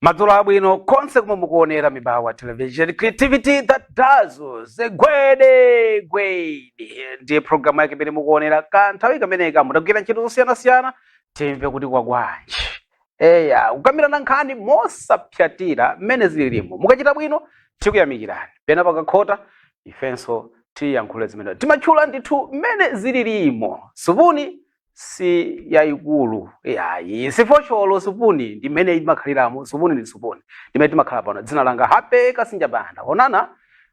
madzulo abwino konse kumene mukuonera mibawa television creativity that dazzles gwede gwede ndiye programu yake imene mukuonera kanthawi kameneka mutagwira ntchito zosiyanasiyana timve kuti kwagwanji eya kukambirana nkhani mosapsatira mmene zililimo mukachita bwino tikuyamikirani pena pakakhota ifenso tiyankhule zimene timatchula ndithu mmene zililimo supuni si yayikulu yayi sifosholo supuni ndimene imakhaliramo supuni ndi supuni ndimene timakhala pano dzina langa happy kasinja banda onana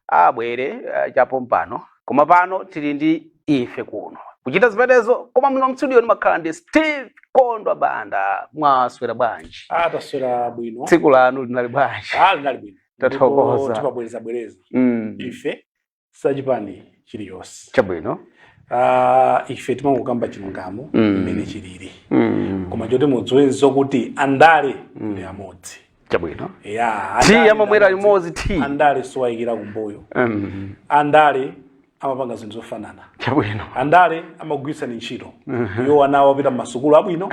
abwere eh, chapompano koma pano tili ndi ife kuno kuchita zimenezo koma muno mstudio ndimakhala ndi steve kondwa banda mwaswera bwanji taswera bwino tsiku lanu linali bwanji Ah, linali bwino Tathokoza. Ndipo timabwerezabwereza mm. ife si achipani chiliyonse chabwino Ah, ife timangokamba chilungamo Mm. mmene chilili mm. koma choti mudziwe nzokuti andale ndi amodzi chabwino ya Tea andale amamwera ndi amodzi. limodzi, tea. andale si owayikira kumbuyo mm. andale amapanga zinthu zofanana chabwino andale amakugwiritsani ntchito iwo ana awo apita mmasukulu abwino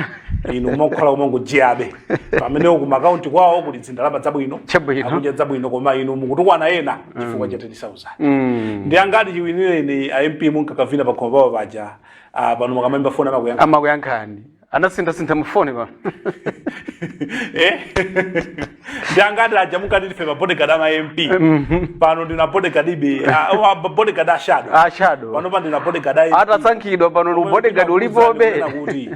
inu mumakhala kumangojiyabe pamene iwo ku maakaunti kwawo kuli zindalama zabwino Chabwino. akudya zabwino koma inu mukutukwana ena chifukwa cha 10000 Mm. ndi angati chiwinireni a mp munkakavina pakhomo pawo paja ah, pano mukamayimba foni amakuyankha amakuyankhani anasinthasintha mufoni pano Eh? ndangati aja munkati ndife ma bodyguard ama mp pano ndinu bodyguardibe ah, ah, bodyguard a shadow a shadow pano pa ndinu bodyguard a MP. atasankhidwa pano Omwe ubodyguard ndinakuwuzani ulipobe kunena kuti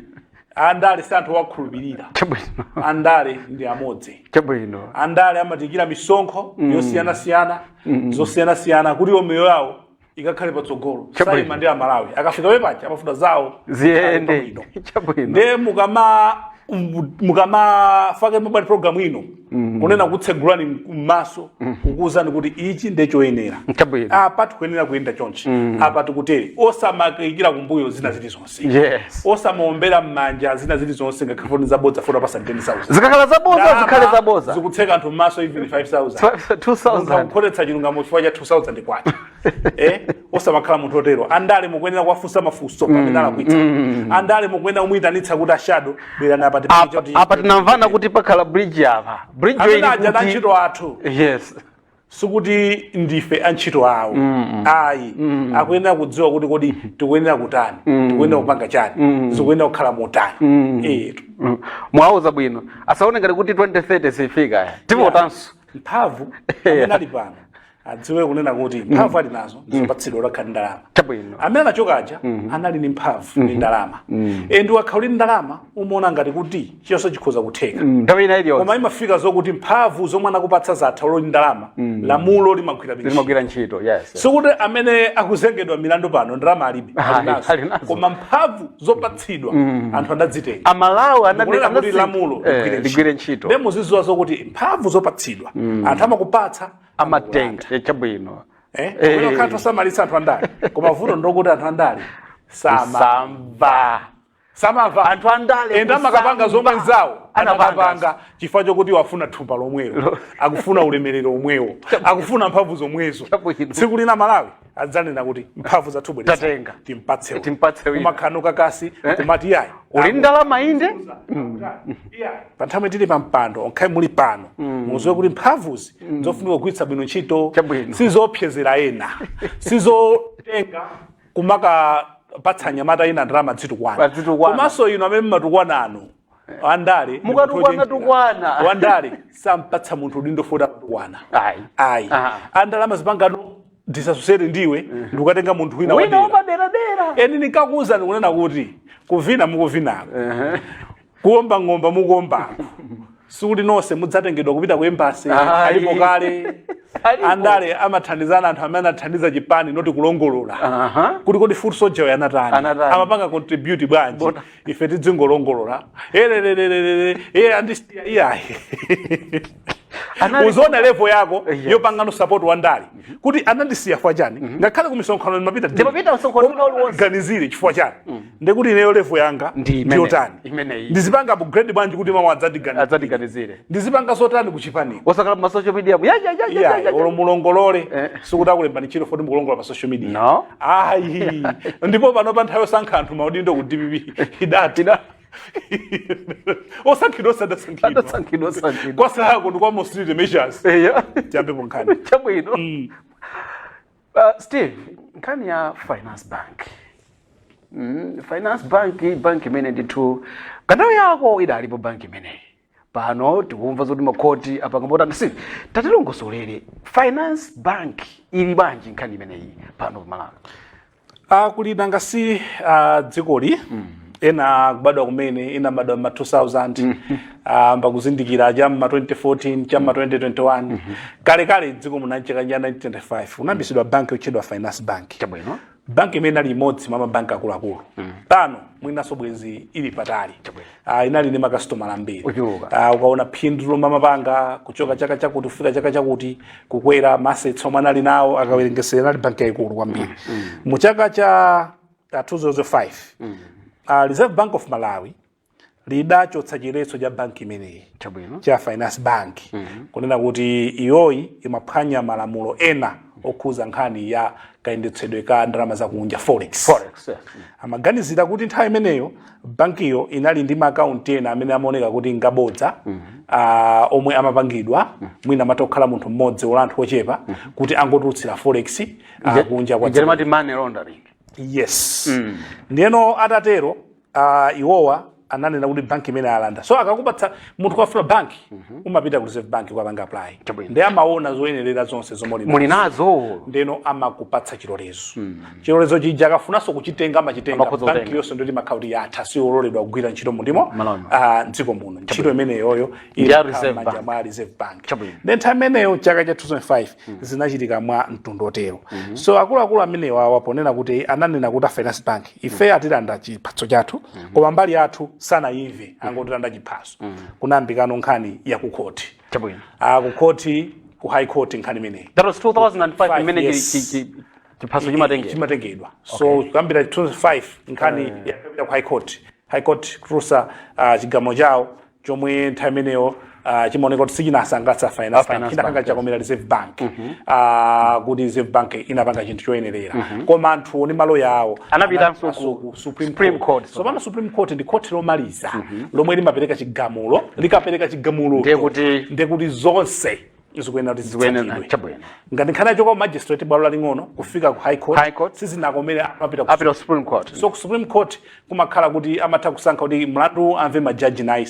andale si anthu owakhulupirira chabwino andale ndi amodzi chabwino andale amatiikira misonkho yosiyanasiyana zosiyanasiyana kuti iwo miyoyo yawo ikakhale patsogolo Chabwino. saima ndi amalawi akafika wepacha amafuna zawo ziyende Ali pabwino. chabwino nde mukama um, mukamafake mobile program ino kunena kutsegulani mmaso kukuwuzani kuti ichi nde choyenera Chabwino. apa tikuyenera kuyenda chonchi apa tikutere osamayikira kumbuyo zina zilizonse yes osamaombera mmanja zina zilizonse ngakhale foni zabodza foni apasa 10000 zikakhala zabodza zikhale zabodza zikutseka anthu mmaso even 5000 2000 kukhotetsa chilungamo chifukwa cha 2000 kwacha eh osamakhala munthu otero andale mukuyenera kuwafunsa mafunso pamene alakwitsa andale mukuyenera kumuyitanitsa kuti a shadow bwerani apa tipite Apa- choti- apa tinamvana kuti pakhala bridge apa bridge amene ili aja kuti- antchito athu yes sikuti ndife antchito awo ayi akuyenera kudziwa kuti kodi tikuyenera kutani tikuyenera kupanga chani zikuyenera kukhala motani Eh, tu- Mm. mwauza bwino asaone ngati kuti 2030 sifika tivotanso mphamvu amene ali pano adziwe kunena kuti mphamvu ali nazo ndizopatsidwa olo akhale ndi ndalama chabwino amene anachoka aja anali ndi mphamvu ndi ndalama e nde ukakhala uli ndi ndalama umaona ngati kuti chilichonse chikhoza kutheka Mm, nthawi ina iliyonse koma imafika zokuti mphamvu zomwe anakupatsa zatha olo uli ndi ndalama lamulo limagwira ntchito. limagwira ntchito yes sikuti amene akuzengedwa milandu pano ndalama alibe Ayi, ali nazo. Ali nazo. koma mphamvu zopatsidwa anthu adazitenga amalawi anadi- kunena kuti anasi- lamulo eh, ligwire ntchito. ligwire ntchito Ndiye muzidziwa zokuti mphamvu zopatsidwa anthu amakupatsa amatenga eh, chabwino Eh, Eh. kumene kukhala osamalitsa anthu andale koma vuto ndokuti anthu andale sama samva samamva anthu andale and amakapanga zomwe nzawo anapanga chifukwa chokuti akufuna thumba lomwero akufuna ulemerero omwewo akufuna mphamvu zomwezo tsiku lina amalawi adzanena kuti mphamvu za thumba tatenga timpatse timpatse wina kumakhalano kakasi eh? kumati yayi uli ndi ndalama inde mm. pa nthawi muli pa mpando ngakhale muli pano mm. mudziwe kuti mphamvuzi mm. zofunika kugwiritsa bwino ntchito si zoopsezera ena si zotenga kumakapatsa anyamata ena ndalama adzitukwana Adzitukwana. komanso inu amene mmatukwana inu andale Mukatukwana, tukwana. wandale sampatsa munthu udindo foti amatukwana Ayi. ayi Ah. andale amazipangano disasosiyete ndi iwe ndikukatenga munthu wina wina wadera wapaderadera and ndinkakuwuzani kunena kuti kuvina mukuvinako kuomba ng'oma mukuombako anthu sikuti nonse mudzatengedwa kupita ku embasi Ayi. alipo kale Alipo. andale amathandizana anthu amene anathandiza chipani noti kulongolola Aha. kuti kodi foot soldier uyu anatani Anatani. amapanga contribute bwanji Bota. ife tidzingolongolola elelelelelele iii andisiya iyayi uziona levo yako yes. yopangano support wa ndale mm -hmm. kuti anandisiya chifukwa chani mm -hmm. ngakhale kumisonkhano ndimapita ndimapita msonkhano uli wonse ganizire chifukwa chani mm -hmm. ndikuti ineyo levo yanga ndi yotani ndizipanga upgrade bwanji kuti mawa adzandiganizire ndizipanga zotani kuchipani osakhala pa social media ya ya ya ya ya olo mulongolole eh. sikuti akulemba ntchito foti mukulongolola pa social media no ayi ndipo pano pa nthawi yosankha anthu maudindo ku DPP idati osankhidwa osadasankhidwa adasankhidwa sankhidwa kwa zawo zako ndi kwa mosirite measures eya tiyambeko nkhani chabwino Uh, steve nkhani ya finance bank mm, finance bank bank imene ndithu panthawi yake idalipo bank imeneyi pano tikumva zoti makhoti apanga motani steve tatilongosolere finance bank ili bwanji nkhani imeneyi pano pamalawi Ah, kuli nanga si ah, dzikoli ena akubadwa kumene ena anabadwa m'ma 2000 ah, nkumazindikira cha m'ma 2014 cha m'ma 2021 kalekale dziko muno mchaka cha 1995 munayambitsidwa banki yotchedwa finance bank chabwino bank imene inali imodzi mwa mabanki akuluakulu pano mwinanso bwenzi ili patali Ah, inali ndi makasitomala ambiri Ochuluka. Ah, ukaona phindu lomwe amapanga kuchoka chaka chakuti kufika chaka chakuti kukwera ma assets omwe anali nawo akawerengetsera inali banki yayikulu kwambiri mu chaka cha ah, 2005 ah, reserve bank of malawi lidachotsa chiphaso cha banki imeneyi chabwino cha finance bank kunena kuti iyoyi imaphwanya malamulo ena okhuza nkhani ya kayendetsedwe ka ndalama zakunja forex forex yes. Mm. amaganizira kuti nthawi imeneyo bankiyo inali ndi maakaunti ena amene amaoneka kuti ngabodza ah, omwe amapangidwa mwina amatokhala munthu mmodzi olo anthu ochepa kuti angotulutsira forex ah, kunja kwa Ija limati money laundering yes ndiyeno atatero uh, iwowa ananena kuti banki imene alanda so akakupatsa munthu akafuna banki umapita ku reserve bank kukapanga apply Chabwino. ndi amaona zoyenerera zonse zomwe uli nazo. muli nazo ndiyeno amakupatsa chilolezo chilolezo chija akafunanso kuchitenga amachitenga Amakhoza banki kutenga. yonse nde imakhala kuti yatha siololedwa kugwira ntchito mundimo Malawi. ah, mdziko muno ntchito imeneyoyo Ndi ya Reserve Bank. m'manja mwa reserve bank Chabwino. nde time imeneyo chaka cha 2005 zinachitika mwa mtundu wotero so akuluakulu amenewa awa ponena kuti ananena kuti a finance bank ife atilanda chiphaso chathu koma mbali yathu sanayimve angotilanda chiphaso kunayambikano nkhani ya ku khoti chabwino Ah, ku khoti ku high court nkhani imeneyi that was 2005 imene chi- Yes. chi- chi- chiphaso chimatengera chimatengedwa so kuyambira 2005 nkhani yapita ku high court high court kutulutsa ah, chigamulo chawo chomwe nthawi imeneyo ah, chimaoneka kuti sichinasangalatse finance Ah, bank Finance chinakhala Bank, chakomera reserve bank Ah, kuti reserve bank inapanga chinthu choyenerera koma anthuwo ndi maloya awo Anapitanso anapitanso ku supreme Supreme court Court, tsopano supreme court ndi khoti lomaliza lomwe limapereka chigamulo likapereka chigamulo Ndiye kuti- ndekuti zonse zikuyenera kuti zikuyenera zitsatidwe. chabwino ngati nkhani yachoka ku magistrate bwalo laling'ono kufika ku high court, High court. sizinakomere amapita ku apita ku supreme court so ku supreme court kumakhala kuti amatha kusankha kuti mlandu amve majaji 9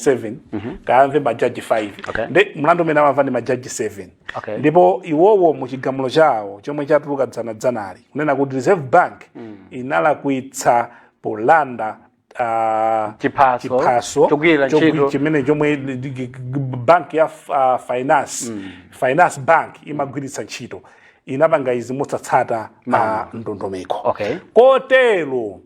7 kaya amve majaji 5 Okay. nde mlandu umenewu amamva ndi majaji 7 Okay. ndipo iwowo mu chigamulo chawo chomwe chatuluka dzanadzanali kunena kuti reserve bank inalakwitsa polanda ah, Chiphaso, chiphaso chogwirira chogwi- ntchito. chimene chomwe ndi- ndi- gi- gi- bank ya f- ah, finance finance bank imagwiritsa ntchito inapanga izi mosatsata ah, ndondomeko Okay. kotero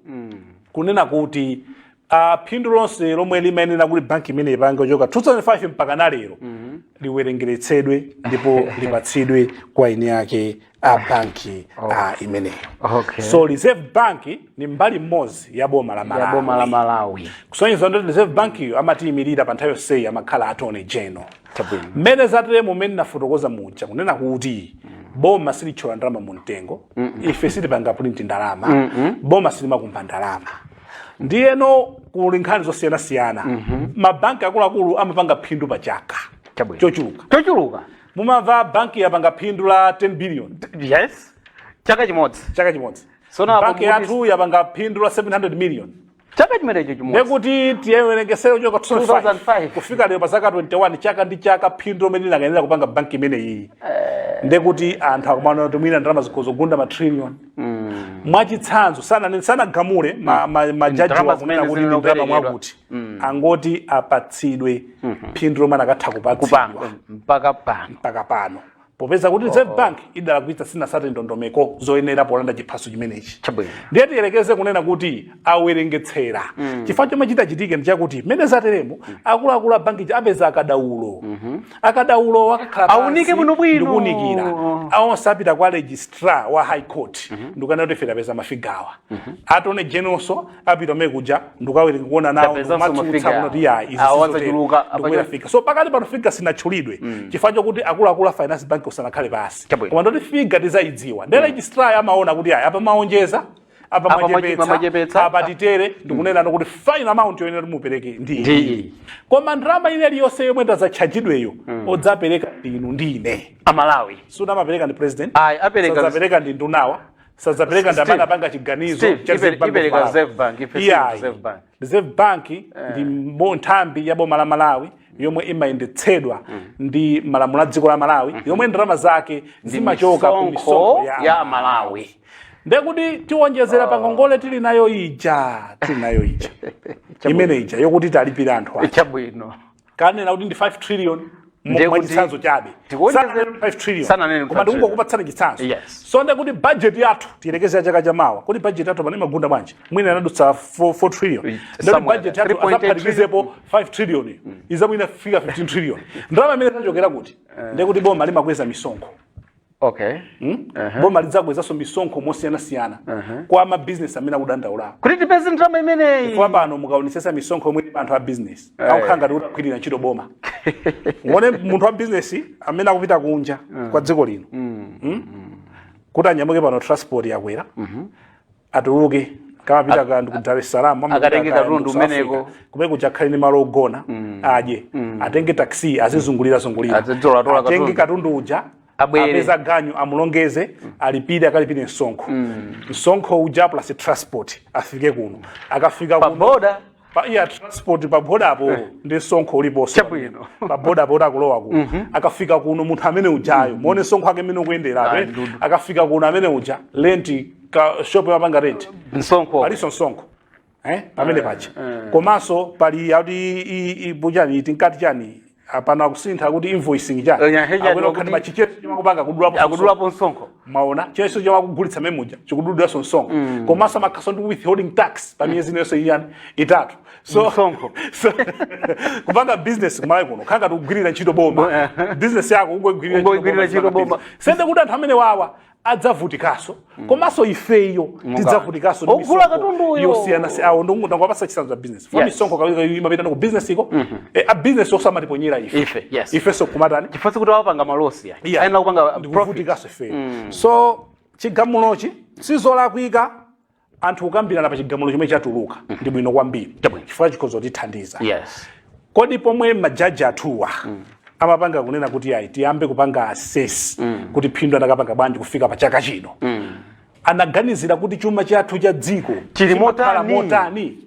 kunena kuti ah, phindu lonse lomwe limayenera kuti banki imeneyi ipange kuchoka 2005 mpaka na lero liwerengeretsedwe ndipo lipatsidwe kwa eni ake a banki oh. a imeneyo okay. so reserve bank ni mbali mmodzi ya boma la malawi, boma la malawi. kusonyeza kuti reserve bankiyo amaiyimirira pa nthawi yonseyi amakhala attorney general mmene zateremu mumene nafotokoza muja kunena kuti mm. boma silithyola ndalama mu mtengo mm -mm. ife sitipanga print ndalama mm -mm. boma silimakumba ndalama ndiyeno kuli nkhani zosiyanasiyana mm -hmm. mabanki akuluakulu amapanga phindu pa chaka chochuluka chochuluka mumamva banki yapanga phindu la 10 billion yes chaka chimodzi chaka chimodzi Sono apo banki kuti- yathu yapanga phindu la 700 million chaka chimenecho chimodzi ndekuti tiwerengetsere kuchoka 2005 2005. kufika lero pa zaka 21 chaka ndi chaka phindu lomwe linakayenera kupanga banki imeneyi ndekuti anthu akumanena kuti mwina ndalama zikhoza kugunda matrillion mwachitsanzo sanane- sanagamule ma- ma- majaji Ndalama wakunena zimene kuti ndi ndalama zinaperekedwa. mwakuti angoti apatsidwe phindu lomwe anakatha kupatsidwa kupanga mpaka pano mpaka pano popeza kuti reserve bank idalakwitsa sinatsate ndondomeko zoyenera polanda chiphaso chimenechi Chabwino. ndiye tiyerekeze kunena kuti awerengetsera chifukwa chomwe chitachitike ndi chakuti mmene zateremo akuluakulu a banki apeza akadaulo akadaulo akakhala pansi Aunike bwinobwino. ndikuunikira awo azapita kwa registrar wa high court ndikukanena kuti ife tapeza mafigawa attorney generalnso apita kumene kuja ndikukawerenga kuona nawo Tapezanso ndikumatsutsa mafigure kunena kuti ayi izi awo sizotero. adzachuluka, Ndikukwera apa achuluka. figure. so pakati pano figa sinatchulidwe chifukwa chokuti akuluakulu a finance bank sanakhale pansi Chabwino. koma ndoti figa tizayidziwa ndi registrar amaona kuti ayi apa mwaonjeza apa Apa mwache- mwachepetsa mwachepetsa. apa titere ndikunena kuti final amount yoyenera kuti mupereke ndi iyi. Ndi. koma ndalama ina iliyonse yomwe tizatchajidweyo odzapereka ndinu ndi ine amalawi suna amapereka ndi president Ayi, apereka- sadzapereka ndi ndunawa sadzapereka ndi amene Steve, anapanga chiganizo Steve, cha ipe- Reserve Bank ipereka of Malawi. Reserve Bank, ife si Iyayi. Reserve Bank. Reserve Bank ndi mbo- nthambi ya boma la Malawi yomwe imayendetsedwa ndi malamulo a dziko la Malawi yomwe ndalama zake zimachoka ku misonkho ya ya Malawi ndekuti tiwonjezera pa ngongole tili nayo ija tili nayo ija imene ija yokuti tilipire anthu ake chabwino kanena kuti ndi 5 trillion mo- Ndiye kuti mwachitsanzo chabe tikuonjezera- Sananena kuti 5 trillion sananena kuti koma 5 trillion. ndikungokupatsani chitsanzo Yes. so nde kuti budget yathu tiyerekeze ya chaka chamawa kuti budget yathu pano imagunda bwanji mwina inadutsa 4 4 trillion nde kuti somewhere budget there. yathu 3.8 azaphatikizepo 5 trillion izamwina fika 15 trillion ndalama imene izachokera kuti nde kuti boma limakweza misonkho okay Hmm? Aha. boma lidzakwezanso misonkho mosiyanasiyana Aha. kwa mabizinesi amene akudandaulawo kuti tipeze ndalama imeneyi kwa pano mukaonetsetsa misonkho yomwe ili pa anthu a bizinesi Eh. akukhala ngati kuti akugwirira ntchito boma mungoona munthu wa bizinesi amene akupita kunja kwa dziko lino Hmm? kuti anyamuke pano transport yakwera atuluke kaya amapita kaya ndi ku Dar es Salaam amapita akatenge ka katundu ku South kumeneko. Africa. kumene kuja akhale ndi malo ogona adye atenge taxi azizungulira zungulira Azitolatola atenge katundu. katundu uja Abwere. apeze ganyu amulongeze alipire akalipire msonkho msonkho uja plus transport afike kuno akafika Pa kuno border. pa iya transport pa bodapo ndi msonkho uliponso Chabwino. pa bodapo kuti akulowa kuno akafika kuno munthu amene ujayo muone msonkho wake mmene ukuyenderapo Ayi, eh? ndithu. akafika kuno amene uja lenti ka shop amapanga renti msonkho palinso msonkho eh? pamene paja komanso pali akuti i- i- ibu chani tinkati chani apano akusintha kuti invoicing cha Nya- heja Akuona ndiwa kuti kuti- machicheso chimakupanga kudulapo akudulapo msonkho maona cheso chamakugulitsa memuja akudulanso msonkho komanso amakhalanso ndi withholding tax pa miyezi inonso inayi itatu so Msonkho. so kupanga business kumalawi kuno kukhala ngati tikugwirira ntchito boma business yako ungoigwirira Ungoigwirira ntchito boma. zionde kuti anthu amene wawa adzavutikanso komanso ifeyo Munga. tidzavutikanso ndi Ogula misonkho katunduyo. yosiyanasiyana awo ndangokupatsani chitsanzo cha business pomwe Yes. misonkho kawiri imapitano ku business uko eh, a business awonso amatiponyera ife Ife, yes. ifenso kumatani chifukwa sikuti apanga malosi ya Yeah. ayenera kupanga profit ndikuvutikanso ifeyo so chigamulochi sizolakwika anthu kukambirana pa chigamulo chomwe chatuluka mm. ndi bwino kwambiri chifukwa chikhoza kutithandiza yes. kodi pomwe majaji athuwa mm. amapanga kunena kuti ayi tiyambe kupanga assess mm. kuti phindu akanapanga bwanji kufika pa chaka chino mm. anaganizira kuti chuma chathu cha dziko chili motani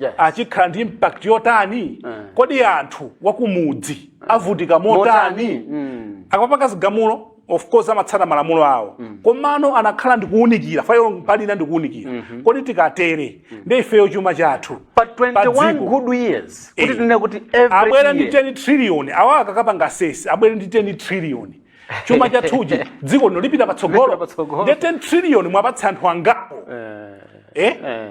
yes. chikhala ndi impact yotani mm. kodi anthu wakumudzi avutika motani, motani? Mm. akamapanga zigamulo of course amatsata malamulo awo mm. komano amakhala ndikuwunikira file pali ina ndikuwunikira mm -hmm. kodi tikatere mm. ndi ifeyo chuma chathu pa 21 good years kuti eh. tinene kuti every abwera ndi 10 trillion awa akakapanga assess abwera ndi 10 trillion chuma chathu cha dziko lino lipita patsogolo ndi 10 trillion mwapatsa anthu angapo eh, eh? eh.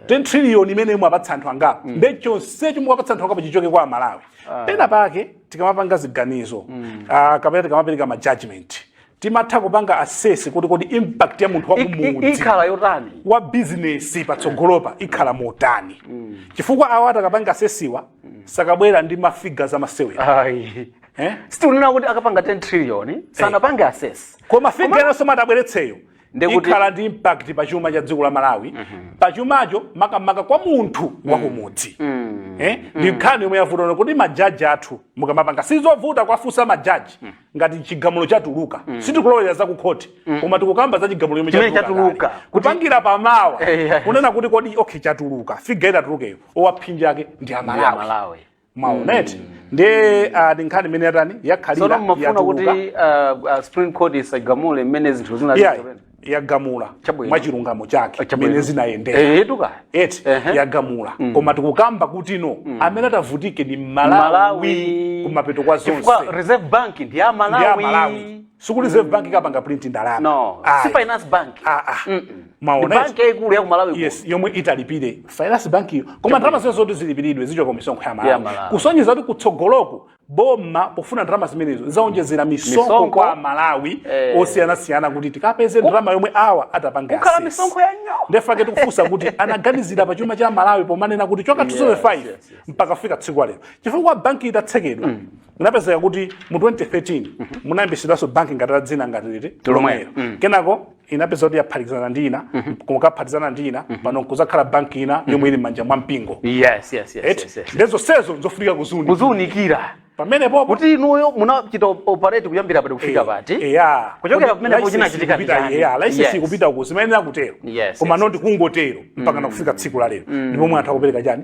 10 trillion imene mwapatsa anthu angapo mm. ndi chonsecho mwapatsa anthu angapo chichoke kwa amalawi pena pake tikamapanga ziganizo uh, kapena tikamapereka ma judgment tizitha kupanga assess kuti kodi impact ya munthu I- i- wakumudzi ikhala yotani wa bizinesi patsogolopa ikhala motani chifukwa awa atakapanga assessiwa sakabwera ndi mafiga za masewera ayi eh? sitikunena kuti akapanga 10 trillion sanapange assess koma figa yonse atabweretseyo Ndekuti- ikhala ndi impact pa chuma cha dziko la malawi pa chumacho makamaka kwa munthu wakumudzi Eh? ndi nkhani yomwe yavuta kuti majaji athu mukamapanga sizovuta kuwafunsa majaji ngati chigamulo chatuluka sitikulowera za kukhoti koma tikukamba za chigamulo chomwe Chimene chatuluka chatuluka. kale. kupangira pamawa Eh, yeah. kunena kuti kodi okay chatuluka figure itatulukeyo ophinjidwa ake ndi amalawi amalawi mwaona mm. eti ndiye uh, ndi nkhani imene yatani sono yakhalira mumafuna kuti yatuluka uh, uh, supreme court isagamule mmene zinthu zina yeah, zikuyenda. yagamula Chabwino. mwa chilungamo chake Chabwino. mmene zinayendera Eh, etu kaya eti Ehe. yagamula koma tikukamba kuti no amene atavutike ndi mmalawi Malawi. kumapeto kwa zonse Chifukwa reserve bank ndi ya ndi ya malawi malawi Sikuti Reserve Bank ikapanga print ndalama. No, Ayi. si Finance Bank. Ah, ah. Mm -mm. Maona Ndi izi. banki yaikulu ya ku Malawi kuno. yes yomwe italipire finance bank iyo koma ndalama zonse zoti zilipiridwe zichoka ku misonkho ya Ya malawi Malawi. kusonyeza kuti kutsogoloko boma pofuna ndalama zimenezo zaonjezera misonkho Misonkho. kwa Amalawi Eh. osiyanasiyana kuti tikapeze ndalama yomwe awa atapanga ukhala assess. misonkho ya nyo. Ndiye chifukwa chake tikufunsa kuti anaganizira pa chuma cha malawi pomanena kuti kuchoka 2005 yes, yes. mpaka kufika tsiku lero chifukwa banki itatsekedwa kunapezeka kuti mu 2013 munayambitsidwanso banki ngati la dzina ngati liti Lomwelo. lomwelo kenako inapezeka kuti yaphatikizana ndi ina n'kukaphatikizana ndi ina pano kuzakhala banki ina yomwe ili m'manja mwa mpingo yes yes yes, Eti? yes, yes. nde zonsezo nzofunika kuziunika kuziunikira pamenepopo kuti inuyo munachita op- operate kuyambira pati kufika pati eya Kuchokera Kodi pamenepo license chinachitika ikupita- ndi chani? eya license Yes. ikupita kuti zimayenera kutero Yes, koma yes, noti kungotero mpaka nkufika tsiku la lero ndipomwe anthu akupereka chani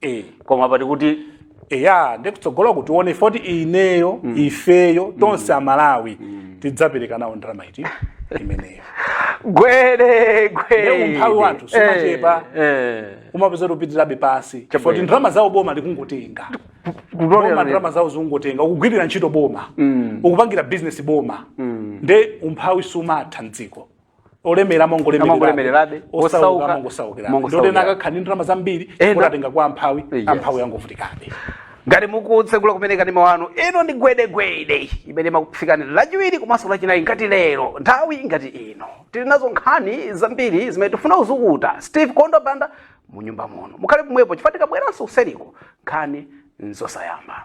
eh, koma pati kuti eya ndi kutsogolo kuti tione foti ineyo ifeyo tonse amalawi tidzapereka nawo ndalama iti imeneyo Gwede gwede Nde umphawi wathu sumachepa. Eh, eh. umapezeka ukupitirabe pasi Chabwino. foti ndalama zawo boma likungotenga Kutolera boma lero. ndalama zawo zikungotenga ukugwirira ntchito boma ukupangira bizinesi boma nde umphawi sumatha mdziko olemera amangolemererabe Amangolemererabe, osauka osauka amangosaukirabe amangosaukirabe. nde ena akakhala ndi ndalama zambiri Ena- kuti atenga kwa amphawi Yes. amphawi angovutikabe ngati mukutsegula kumene kanema wanu ino ndi gwedegwede imene imakufikani lachiwiri komanso lachinayi ngati lero nthawi ngati ino tili nazo nkhani zambiri zimene tifuna kuzukuta steve kondo banda mu nyumba muno mukhale pomwepo chifukwa tikabweranso kuseriko nkhani nzosayamba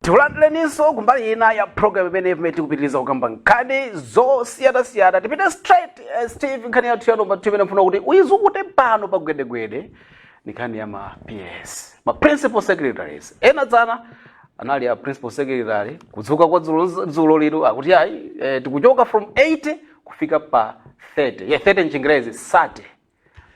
tikulandileninso kumbali ina ya program imene pamene tikupitiriza kukamba nkhani zosiyanasiyana tipite straight eh, steve nkhani yathu ya nomba 2 imene mfuna kuti uyizukute pano pa gwedegwede ni nkhani ya ma ps ma principal secretaries ena dzana anali a principal secretary kudzuka kwa dzulo lero akuti ayi eh, tikuchoka from 80 kufika pa 30 yeah, 30 mchingerezi 30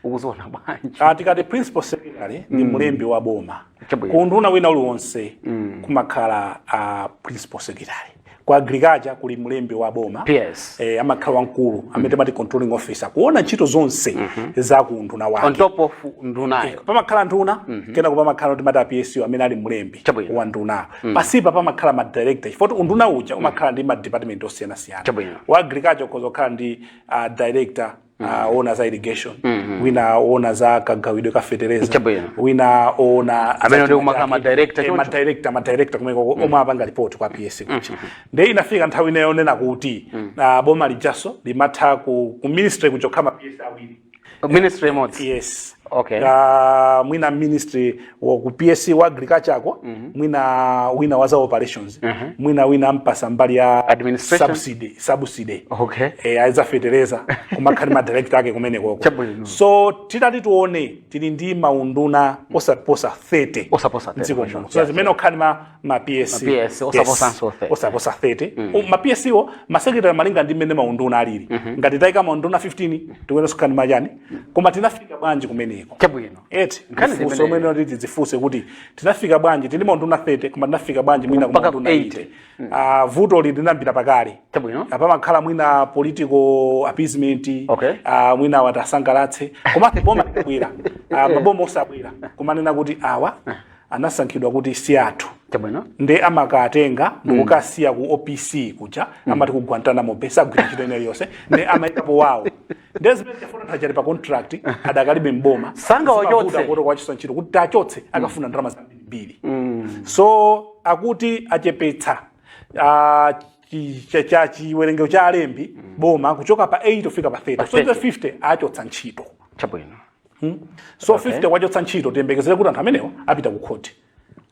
ukuziona bwanji Ah, tikati principal secretary ndi mlembi wa boma Chabwino. ku unduna wina uliwonse kumakhala ah, principal secretary ku agriculture kuli mlembi wa boma Yes. eh, amakhala wamkulu amene timati controlling officer kuona ntchito zonse za ku unduna wake on top of ndunayo pamakhala nduna kenako pamakhala timati a PS amene ali mlembi Chabwino. wa nduna pasipa pamakhala ma director chifukwa unduna uja umakhala ndi ma department osiyanasiyana Chabwino. wa agriculture ukhoza kukhala ndi ah, director wina oona za irrigation wina oona za kagawidwe ka fetereza Chabwino. wina oona Amene ndi kumakhala ma director choncho. madirector madirector kumeko omwe apanga report kwa ps kuja nde inafika nthawi ina yonena kuti ah, boma lijaso limatha ku, ku ministry kuja kukhala ma ps awiri ministry imodzi yes Okay. Ah, mwina ministry wa ku ps wa agriculture ako mwina wina wa za operations mwina wina ampatsa mbali ya Administration? subsidy subsidy Okay. eh, a za fetereza kumakhala ma director ake kumenekoko Chabwino. so titati tione tili ndi maunduna osaposa 30 Osaposa 30, mdziko sure. muno so zimene okhala ma ma ps Ma PS, osaposanso 30. osaposa 30 U- ma ps wo ma secretary malinga ndi mmene maunduna alili ngati taika maunduna 15 tikuyenera kukhala ma chani koma tinafika bwanji kumeneko chabwino eti nkhani Funso limene mwene kuti tidzifunse kuti tinafika bwanji tili maunduna 30 koma tinafika bwanji mwina Mpaka ku maunduna 80. 80 Ah, vuto li linayambira pakale Chabwino. a pamakhala mwina political appeasement Okay. ah, mwina woti asangalatse koma boma likabwera Ah, maboma onse akabwera kumanena kuti awa anasankhidwa kuti si athu chabwino nde amawatenga ndikukawasiya ku opc kuja amati ku guantanamo bay sagwira ntchito ina iliyonse nde amaikapo wawo ndezimene ndafuna akadali pa contract adakalibe m'boma Sangawachotse. kuti kuwachotsa ntchito kuti tiwachotse akafuna ndalama zambiri so akuti achepetsa ah, chi- cha- cha chiwerengero cha alembi a boma kuchoka pa 80 kufika pa 30 so 30. 50 achotsa ntchito chabwino so 50 awachotsa ntchito tiyembekezere kuti anthu amenewo apita ku khoti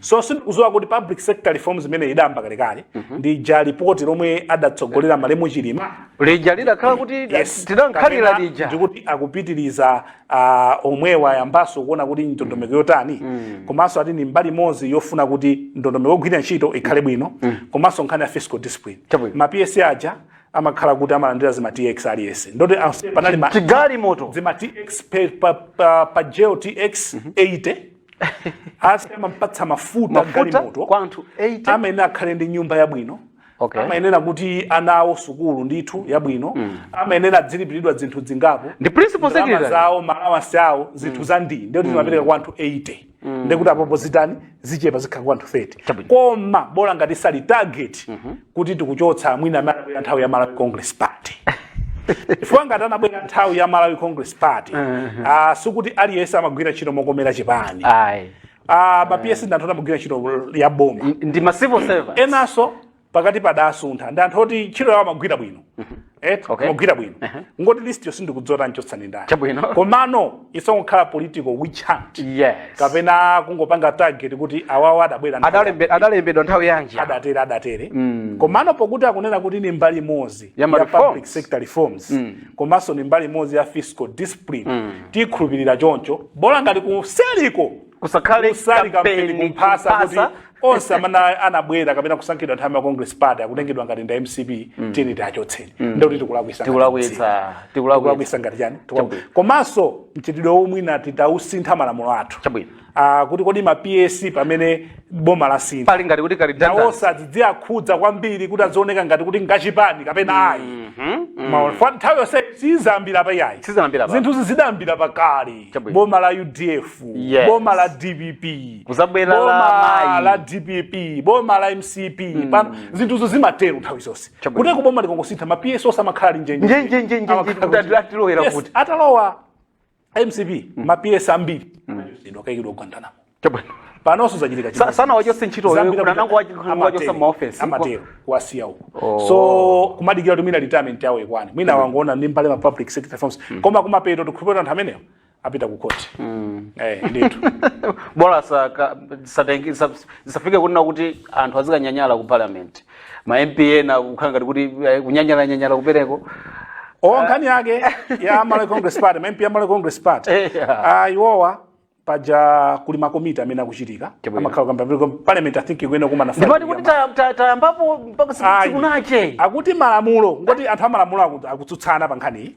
so sindikudziwa kuti public sector reforms imene idayamba kalekale ndi ija lipoti lomwe adatsogolera malemu chilima lija lidakhala kuti Yes. tidalikhalira Kapena lija ndikuti akupitiriza ah, omwewa ayambanso kuona kuti ndondomeko yotani komanso ati ni mbali imodzi yofuna kuti ndondomeko yogwira ntchito ikhale bwino komanso nkhani ya fiscal discipline Chabwino. ma ps aja amakhala kuti amalandira zima tx aliyense ndi oti onse panali ma chigalimoto zima tx pe- pa, pa, pa ja tx 80 afi amampatsa mafuta Mafuta galimoto kwa anthu 80? amayenera akhale ndi nyumba yabwino Okay. amayenera kuti ana awo sukulu ndithu yabwino amayenera adzilipiridwa zinthu zingapo Ndi principal Ndalama secretary. zawo ma allowance awo zinthu za ndi ndikuti timapereka kwa anthu 80 ndikuti apapa zitani zichepa zikhala kwa anthu 30 Chabwino. koma bola ngati sali target kuti tikuchotsa mwina amene anabwera nthawi ya malawi congress party chifukwa ngati anabwera nthawi ya malawi congress party ah, sikuti aliyense amagwira ntchito mokomera chipani ayi Ah, ma ps ndi anthu oti amagwira ntchito ya boma ndi ma civil servant enanso pakati padasuntha ndi anthu oti ntchito yawo amaigwira bwino Eh, Okay. amagwira bwino Ehe. kungoti list yo sindikudziwa achotsa ndani Chabwino. komano isongokhala political witch hunt yes kapena kungopanga target kuti awawa adabwera nthawi Adalembe- adalembedwa nthawi yanji adatere adatere komano pokuti akunena kuti ni mbali imodzi Ya ma ya reforms. public sector reforms komanso ni mbali imodzi ya fiscal discipline tikhulupirira choncho bola ngati kuseriko kusakhale kusali kampeni kampeni kumphasa kuti kumphasa onse amene anabwera kapena kusankhidwa nthawi ya congress party akutengedwa ngati nda mcp tiyeni tiachotseni ndikuti tikulakwisa ngati mcp. tikulakwitsa tikulakwitsa tikulakwisa ngati chani Tikula- Chabwino. komanso mchitidwewo mwina titausintha malamulo athu Chabwino. Ah, kuti kodi ma ps pamene boma lasintha pali ngati kuti kali nawo danza osadziakhudza kwambiri kuti azioneka ngati kuti ngachipani kapena ayi Maona. Fa- nthawi yonse sizambira pa yayi Sizambira pa. zinthu zidayambira pakale Chabwino. boma la udf Yes. boma la dpp Kuzabwera la boma mayi. la dpp boma la mcp pano zinthuzo zimatero nthawi zonse Chabwino. kuti boma likangosintha ma ps onse amakhala ali njenje Nje, nje, nje, nje, Amakhala nje, kuti- ati- atilowera Yes, kuti. atalowa mcp ma ps ambiri ankaikidwa ku guantanamo Chabwino. panonso zachitika Sa- chimodzi. sanawachose ntchito Zambiri wewe, amati- anangowachi- amatero, wachose maofesi. amatero kuwasiya uko Oh. so kumadikira kuti mwina retirement yawo ikwane mwina wangoona ndi mbali ma public sector reforms koma kumapeto tikhulupirira anthu amenewo apita ku court eh ndithu bola saka- satengi- sab- zisafike kunena kuti anthu azikanyanyala ku parliament ma mp ena kukhala ngati kuti eh, kunyanyalanyanyala kupereko o nkhani yake ya Malawi Congress Party ma MP a Malawi Congress Party Eh, yeah. ah iwowa paja kuli makomiti amene akuchitika Chabwino. amakhala kamba vile kom- parliament i think ikuyenera kumana ndipo Friday ndikuti yama- ta- ta- tayambapo mpaka siku- Ayi. sikunache akuti malamulo ngoti anthu amalamulo aku- akutsutsana pa nkhaniyi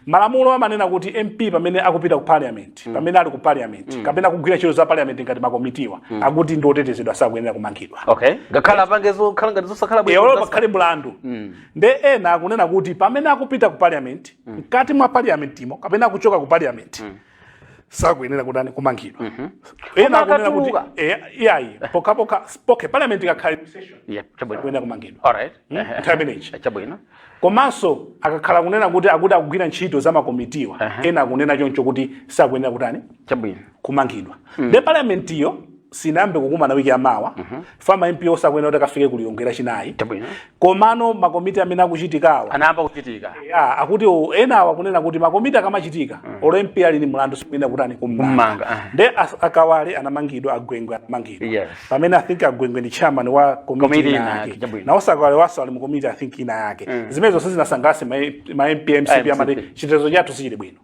malamulo amanena kuti mp pamene akupita ku parliament pamene ali ku parliament kapena akugwira ntchito za parliament ngati makomitiwa akuti ndi otetezedwa sakuyenera kumangidwa okay ngakhale apange zokhala ngati zosakhala bwino olo zasa- pakhale mlandu nde ena akunena kuti pamene akupita ku parliament mkati mwa parliamentimo kapena akuchoka ku parliament sakuyenera kutani kumangidwa ena Koma akunena kuti akatuluka. eh, iyayi pokhapokha okay parliament ikakhala in session Yeah, chabwino. sakuyenera kumangidwa All right. Hmm? Ehe. Nthawi imeneyi. Eh, Chabwino. komanso akakhala kunena kuti akuti akugwira ntchito za makomitiwa ena akunena choncho kuti sakuyenera kutani Chabwino. kumangidwa nde parliamentiyo sinayambe kukumana wiki yamawa uh mhm. -huh. ma mp onse akuyenera kuti akafike ku lilongwe lachinayi komano makomiti amene akuchitikawa anayamba kuchitika yeah, akuti enawa akunena kuti makomiti akamachitika uh mm. -huh. olo mp ali ni mlandu sikuyenera kutani kummanga uh ah. -huh. nde akawale anamangidwa agwengwe anamangidwa yes. pamene i think agwengwe ndi chairman wa komiti ina yake nawoso akawalewaso ali mu komiti i think ina yake uh mm. -huh. zimenezo sizinasangalatse ma mp a mcp amati chitetezo chathu sichili bwino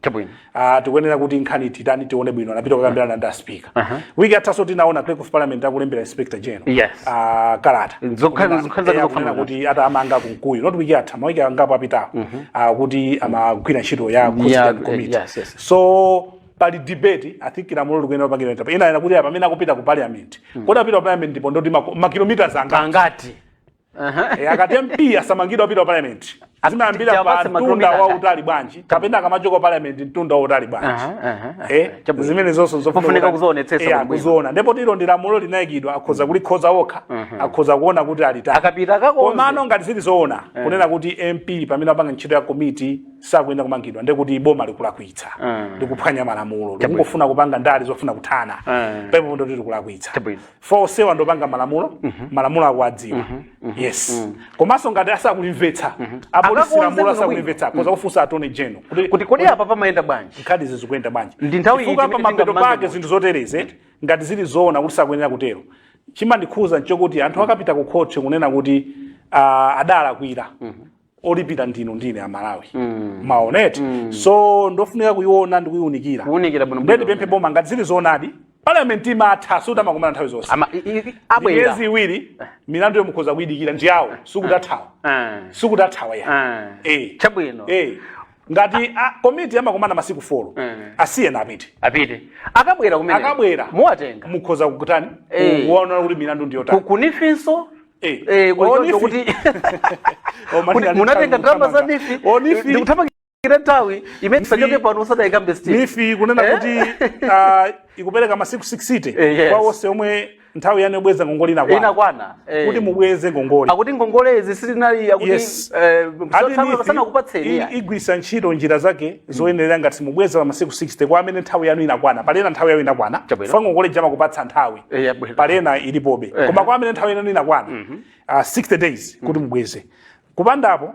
Uh, tikuyenera kuti nkhaniyi titani tione bwino anapita kukambirana ndi aspika uh -huh. wiki yathaso tinaona clerk of parliament akulembera inspector general yes. uh, kalata kunena kuti atamanga kunkuyu not wiki yatha mawiki angapo apitawo uh mhm. -huh. uh, kuti amagwira ntchito ya yeah, committee yes, yes. so pali debate i think lamulo likuyenera kupangidwa ntapa ina ina kuti pamene akupita ku parliament mm. kodi apita ku parliament ndipo ndoti makilometers angati Eh, akati mp asamangidwa apita ku parliament zimayambira pa Tiwapatse mtunda makilomita wa ata. utali bwanji kapena akamachoka parliament mtunda wa utali bwanji Aha, aha, aha. Eh, Chabwino. zimene zonse zofuna Mufunika kuti- kuzionetsetsa Eh, bwino bwino. akuziona ndipo ilo ndi lamulo linayikidwa akhoza kulikonza okha akhoza kuona kuti alitali Akapita akakonze. komano ngati zili zoona kunena kuti mp pamene apanga ntchito ya komiti sakuyenera kumangidwa nde kuti boma likulakwitsa Mm. likuphwanya malamulo likungofuna kupanga ndale zofuna kuthana Mm. pepo ndoti likulakwitsa Chabwino. fa onsewa ndi opanga malamulo malamulo akuwadziwa yes komanso ngati asakulimvetsa apolisi Akakonze lamulo bwinobwino. asakulimvetsa akhoza kufunsa attorney general kuti kuti kodi apa pamayenda bwanji nkhanizi zikuyenda bwanji Ndi nthawi Chifukwa iti imene pamapeto tingammange pake munthu? zinthu zotereze ngati zili zoona kuti sakuyenera kutero chimandikhuza nchokuti anthu akapita ku khoti kunena kuti ah, adalakwira olipira ndinu ndi ine amalawi mwaona eti so ndofunika kuiona ndi kuiunikira Kuunikira bwino bwino. ndipemphe boma ngati zili zoonadi parliament imatha sikuti amakumana nthawi zonse Ama- i- i- i- abwera miyezi iwiri milanduyo mukhoza kuidikira ndi awo sikuti athawa Eh. sikuti athawa ayi Eh. Eh. chabwino Eh. ngati a- komiti amakumana masiku 4 Mm. asiyeni apite apite akabwera kumene Akabwera. muwatenga mukhoza kukutani Eh. kuona kuti milandu ndiyotani ku NEEF nso Eh. eh, kuchoncho Onifi. kuti Oh, mani kuti ali munatenga mtanga ndalama za kuthamanga. NEEF Onifi. ndikuthamangira nthawi imene tisachoke pano usadayikambe still NEEF kunena Eh? kuti ah, ikupereka masiku 60 Eh, yes. kwa onse omwe nthawi yanu yobweza ngongole inakwana inakwana eh. kuti mubweze ngongole akuti ngongole izi sizinali akuti Yes. eh, Ati sana- NEEF sanakupatseni i- ayi. igwiritsa ntchito njira zake zoyenerera ngati mubweza pa masiku 60 kwa amene nthawi yanu inakwana pali ena nthawi yanu inakwana Chabwino. fa ngongole ija amakupatsa nthawi Eh, yabwino. pali ena ilipobe Eh. koma kwa amene nthawi yanu inakwana ah, 60 days kuti mubweze kupanda apo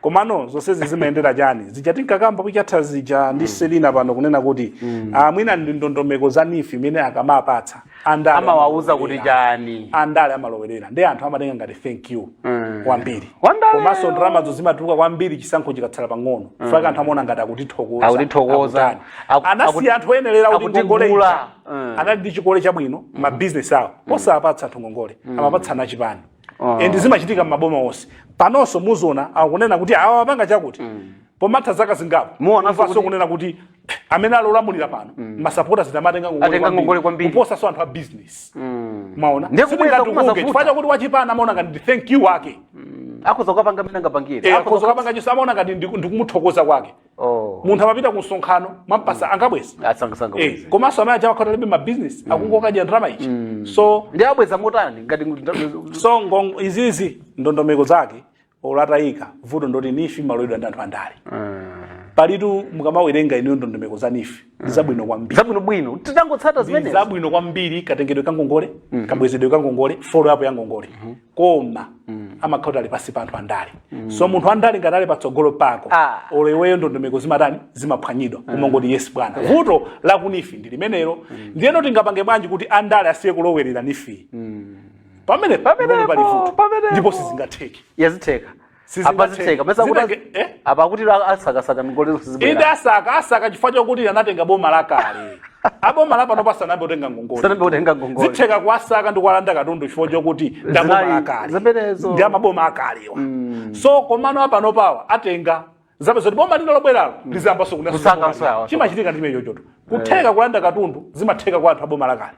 komano zonsezi zimayendera chani zija tinkakamba week yatha zija ndi selina pano kunena kuti ah, mwina ndi ndondomeko za NEEF imene akamapatsa andale amawauza kuti amalowerera. chani andale amalowerera ndi anthu amatenga ngati thank you kwambiri Wandale. komanso ndalamazo zimatuluka kwambiri chisankho chikatsala pang'ono fukwa anthu amaona ngati akutithokoza Akutithokoza. akutani. Aku- anasiya anthu oyenerera kuti akutigula. ngongole ija. Mm. anali ndi chikole chabwino mabizinesi awo osapatsa anthu ngongole amapatsana achipani Ah. and zimachitika m'maboma onse panonso muziona akunena kuti awa apanga chakuti pomatha zaka zingapo Muonanso Mumvanso kuti- kunena kuti amene ali olamulira pano masapotazi amatenga Atenga ngongole kwambiri. kuposanso anthu a business mwaona Ndiye kubweza Sindingati kumadza ukunge, vuta. chifukwa chakuti wachipani amaona ngati ndi thank you wake akhoza kukapanga mmene angapangire Eh, akhoza kukapanga chonse amaona ngati ndiku- ndikumuthokoza kwake Oh. munthu amapita ku msonkhano mwampatsa angabweza Asangasanga Eh, bweza. komanso amene aja akhala alibe mabizinesi akungokadya ndalama ichi so Ndi abweza motani ngati ngu- so ngongo izizi ndondomeko zake olo atayika vuto ndoti NEEF imalowedwa ndi anthu andale palitu mukamawerenga ineyo ndondomeko za NEEF ndi zabwino kwambiri zabwino bwino titangotsata ndi zimenezo zabwino kwambiri katengedwe ka ngongole kabwezedwe ka ngongole follow up ya ngongole koma amakhala kuti ali pansi pa anthu andale so munthu andale ngati ali patsogolo pako Ah. olo iweyo ndondomeko zimatani zimaphwanyidwa umangoti yes bwana vuto la ku neef ndi limenelo ndiyeno tingapange bwanji kuti andale asiye kulowerera neef pamene pamene pali vuto pamenepo. ndipo sizingatheke ya zitheka apa zitheka mesa kuti Zinange- eh? apa akuti la- asakasaka ngongole inde zibwera asaka asaka chifukwa chokuti anatenga boma lakale aboma lapanopa sanambe kutenga ngongole sanambe kutenga ngongole zitheka kuwasaka ndi kuwalanda katundu chifukwa chokuti Zinali- ndaboma akale zimenezo. ndi amaboma akalewa so komano apanopawa atenga zabe zoti boma lina lobweralo lizambaso Kusakanso awa. chimachitika ndi chimenechoto kutheka kulanda katundu zimatheka kwa anthu aboma lakale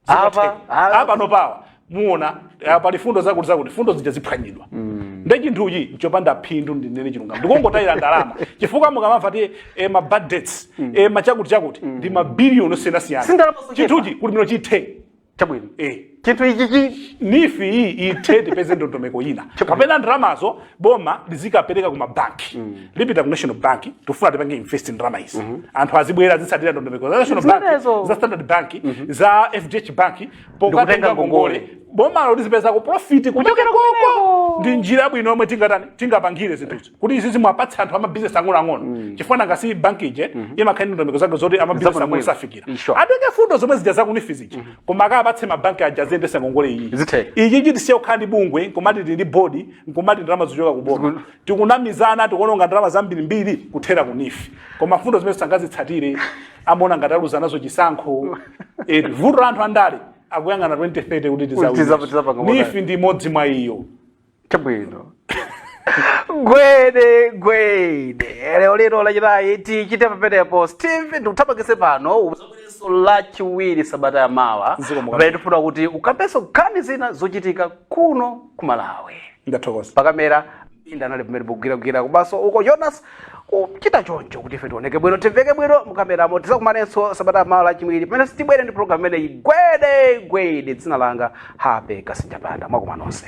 Apa- apa- apanopawa muona eh, pali fundo zakuti zakuti fundo zija ziphwanyidwa nde chinthuchi nchopanda phindu ndinene chilungamo ndikungotayira ndalama chifukwa mukamamva kuti eh, ma bad debts eh, machakuti chakuti ndi mabiliyoni osiyanasiyana Si ndalama zochepa. chinthuchi kuti mwina chithe chabwino eh chinthu ichichi neef iyi ithe tipeze ndondomeko ina kapena ndalamazo boma lizikapereka ku mabanki lipita ku national bank tifuna tipange invest ndalama izi anthu azibwera azitsatira ndondomeko za national bank Zimenezo. za standard bank za fdh bank Ndikutenga pokatenga ngongole. ngongole bomalo lizipezako profit kuchokera Kuchokera koko kumeneko. ndi njira yabwino yomwe tingatani tingapangire zinthuzi kuti izi zimwapatsa anthu amabizinesi ang'onoang'ono chifukwa nanga si bank ija imakhala ndi ndondomeko zake zoti amabizinesi Zabwino ang'ono bwino. safikira Sure. atenge fundo zomwe zija za ku neef zija koma akapatse mabanki aja aziyendesa ngongole iyi Zithe. ichi chithe tisiye kukhala ndi bungwe nkumati tili ndi board nkumati ndalama zochoka ku boma tikunamizana tikuononga ndalama zambirimbiri kuthera ku neef koma mfundo zimene sangazitsatire amaona ngati aluza nazo chisankho eti vuto la anthu andale akuyang'ana 2030 kuti Tiza- tizawina tizapanga motani. neef ndi imodzi mwa iyo chabwino gwede gwede lero lino lachinayi tichite pamenepo steve ndikuthamangise pano uzabwerenso lachiwiri sabata ya mawa Zikomo kwambiri. pamene tifuna kuti ukambenso nkhani zina zochitika kuno ku malawi ndathokoza pakamera inda anali pamene pogwiragwira kubaso uko jonas kuchita choncho kuti ife tioneke bwino timveke bwino mukameramo tizakumanenso sabata ya mawa lachiwiri pamene tibwere ndi programu imeneyi gwede gwede dzina langa happy kasinjapanda mwakoma nonse